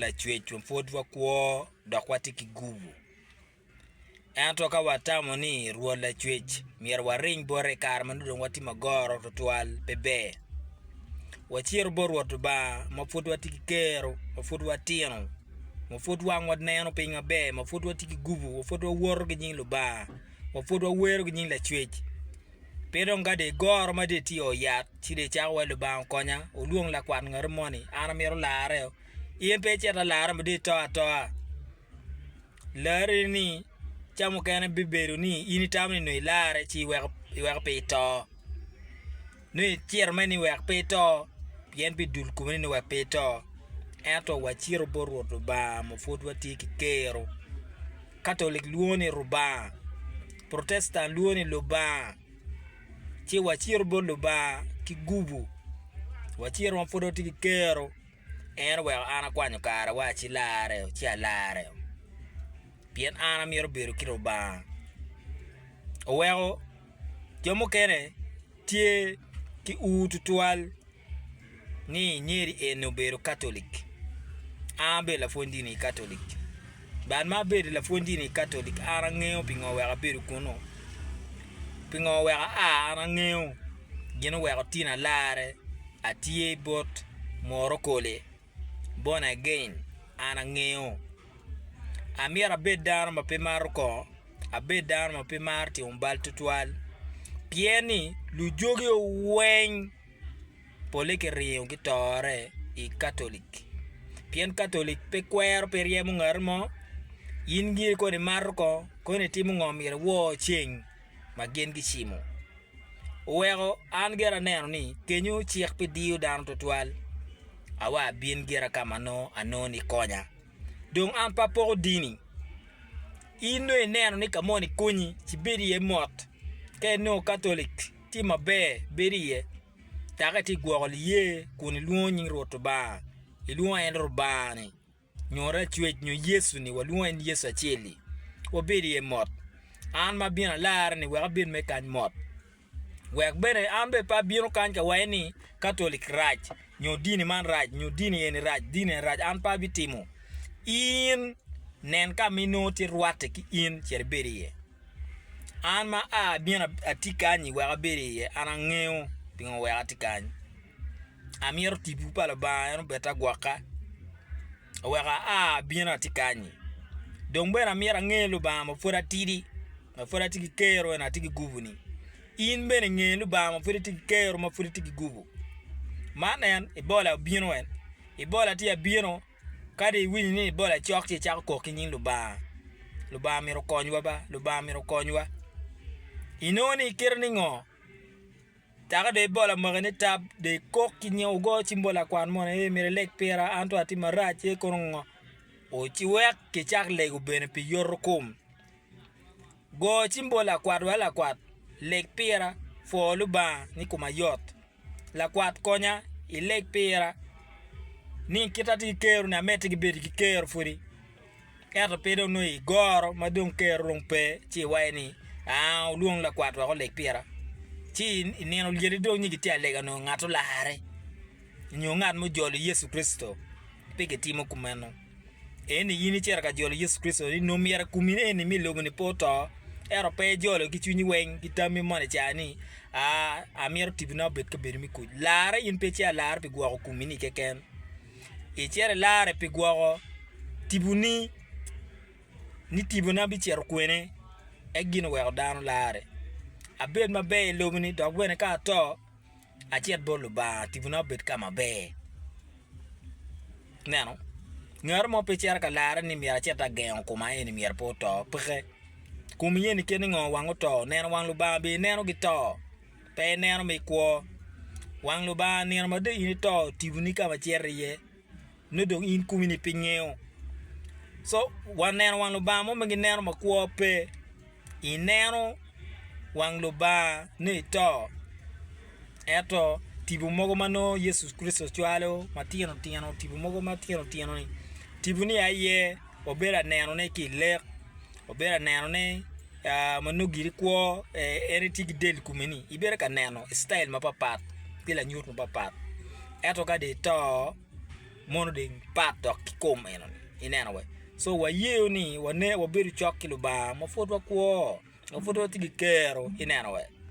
Lacwec wa pwod wakwo dok watye ki gubu. Ento ka watamo ni Rwot Lacwec myero waring bote i kare ma nongo dong watye magoro tutwal, pe ber. Wacito bot Rwot Lubanga ma pwod watye ki kero, ma pwod watino, ma pwod wangwa neno piny maber, ma pwod watye ki gubu, ma pwod wawoto ki nying Lubanga, ma pwod wawero ki nying Lacwec. Pe dong ka dong igoro ma dong itio yat, ci dong icako wa, 'Lubanga okonya, wulwong lakwat ngati moni, an amito lareo. In pe icito alara ma dong ito atoa. Larri-ni, ca mukene bibedo ni in itamo ni nongo ilarre ci iweko iweko pe ito. Nongo iciro mere ni wek pe ito, pien pi dul komi ni wek pe ito. Ento wacito bot Rwot Lubanga ma pud watye ki kero. Katolic lwongo ni Rubanga, Protestan lwongo ni Lubanga, ci wacito bot Lubanga ki gubu. Wacito ma pud watye ki kero, en oweko an akwanyo karawa ci lare ci alare, pien an amito bedo ki Lubanga. Oweko. Jo mukene tye ki ur tutwal ni nyeri eni obedo Katolic. An abedo lapwony dini Katolic. Bad ma abedo lapwony dini Katolic, an angeyo pingo wek abedo kunnu. Pingo wek aa, an angeyo gin oweko tin alarre atye bot moro kole. Born again, an angeyo. Amyero abed dano ma pe maro kor, abed dano ma pe maro timo bal twatwal, pien ni lujogi weng pole ki ringo ki tore i Catholic, pien Catholic pe kwero pe ryemo ngati mo, in giri kong i mato kong, kong itimo ngo myero iwor ceng. ma gin gicimo oweko an gire aneno ni kenyo cik pi diyo dano twatwal. Awa abin gira ka ma nongo anongo ni konya. Dong an pe apoko dini. In nongo ineno ni ka moni konyi, ci bed iye mot. Ka inongo Katolic tye maber, bed iye. Dok itye ka gwoko liye kun ilwongo nying Rwot Lubanga, ilwongo en Lubangani. nyo racwec nyo Yecu ni walwongo en Yecu acel-li, wabed iye mot. An ma abino alarre-ni wek abed me kany mot, wek bene an bene pe abino kany ka waye ni Katolic rac nyo dini man rac nyo dini eni rac dini eni rac an pe abitimo. In nen ka ma inongo tye rwatte ki in cit ibed iye. An ma a abino atye kany-nyi wek abed iye an angeyo pingo wek atye kany. amito tipo pa Lubanga en obed agwoka wek aa abino atye kany-nyi dong bene amyero ange Lubanga ma pwod atidi ma pwod atye ki kero eni atye ki gubu-ni in bene nge Lubanga ma pwod itye ki kero ma pwod itye ki gubu man en ibola obino en ibola tye abino kadi iwinyo ni ibola cok ci icako kok ki nying Lubanga, Lubanga myero okonywa ba Lubanga myero okonywa inongo ni kite ni ngo Dako dong ibol amaki ni tab, dong ikok ki nying ogo cim bot lakwan moni ni, Myero ileg pira, an tung atye marac ci ikono ngo? Wek kicak lego bene pi yotokom. Go cim bot lakwat wa, Lakwat, leg pira, pwo Lubanga ni koma yot. Lakwat, konya ileg pira ni kit ma atye ki kero-ni, amedde ki bedo ki kero pwodi. Ento pe dong nongo i goro ma dong Ker orung pe, ci iwaye ni, 'Aa, wulwong lakwat wek oleg pira. Ci i nino olyedi dong nyig itye alega onongo ngat olarre, nyo ngat mujolo Yecu Kricito. Pe gitimo kumeno. Eni in icito ka jolo Yecu Kricito ni nongo myero akumi eni me lobo-ni pe oto, ento pe ijolo ki cwinyi weng, ki tammi mono i caa ni, 'Aa, amito tibina obed kabedo me kuc. Larre in pe ci alarre pi gwoko kumi-ni keken. Icito ilarre pi gwoko tiponi, ni tipona bicito kwene, en gin oweko dano larre. Abed maber i loboni dok bene ka ato, acit bot Lubanga tipona obed ka maber. Ineno? Ngat mo pe cito ka larre ni myero acit agengo koma eni myero pe oto, peke. Kom iyeni kit ni ngo wang oto? Neno wang Lubanga bene ineno gito? Pe ineno ma ikwo. Wang Lubanga nino ma dong in ito tiboni ka ma cito iye, nongo dong in kumi-ni pe ngeyo. Co wa neno wang Lubanga mo ma gineno ma kwo pe. Ineno wang Lubanga ni ito, ento tipo mogo ma nongo Yecu Kricito cwalo matino tino, tipo mogo matino tino-ni, tiponi aye wabedo anenone ki i lek, wabedo anenone ma nongo giri kwo en etye ki del kome ni ibedo ka neno i citail mapapat ki lanyut mapapat ento ka dong ito mono dong pat dok ki kom eno ni ineno wee so wayeyo ni wabedo cok ki Lubanga ma pud wakwo ma pud watye ki kero ineno wee.